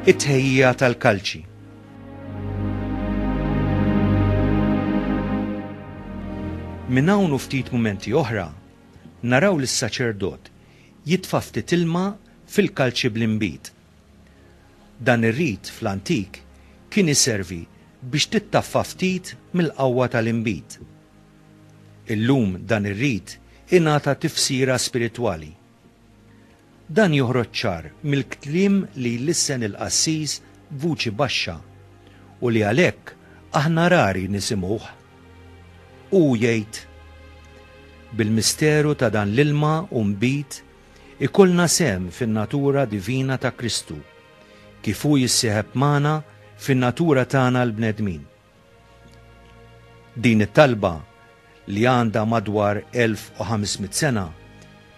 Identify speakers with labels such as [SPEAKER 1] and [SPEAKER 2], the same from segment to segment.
[SPEAKER 1] it-tħejjija tal-kalċi. Minn hawn u ftit mumenti oħra, naraw lis saċerdot jitfa' ftit ilma fil-kalċi bl-inbid. Dan ir-rit fl-antik kien iservi biex tittaffa ftit mill-qawwa tal-inbid. Illum dan ir-rit ingħata tifsira spiritwali. Dan joħroġ ċar mill-kliem li jlissen il-qassis b'vuċi baxxa u li għalhekk aħna rari nisimgħuh. Hu jgħid, Bil-misteru ta' dan l-ilma u nbid ikollna sehem fin-natura divina ta' Kristu, kif hu jissieħeb magħna fin-natura tagħna l-bnedmin. Din it-talba, li għandha madwar 1,500 sena,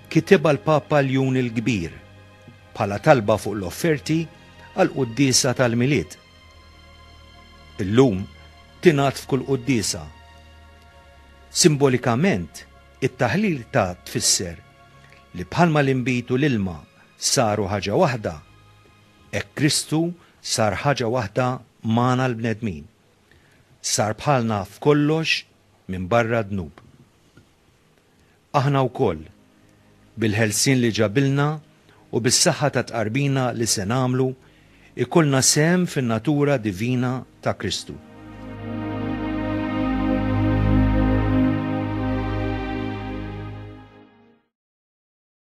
[SPEAKER 1] kitibha l-Papa Ljun il-Kbir bħala talba fuq l-offerti għall-quddiesa tal-Milied. Illum tingħad f'kull quddiesa. Simbolikament, it-taħlil ta' tfisser li bħalma l-inbid u l-ilma saru ħaġa waħda, Hekk Kristu sar ħaġa waħda magħna l-bnedmin. Sar bħalna f'kollox minbarra d-dnub. Aħna wkoll, bil-ħelsien li ġabilna u bis-saħħa tat-tqarbina li se nagħmlu, ikollna sehem fin-natura divina ta' Kristu.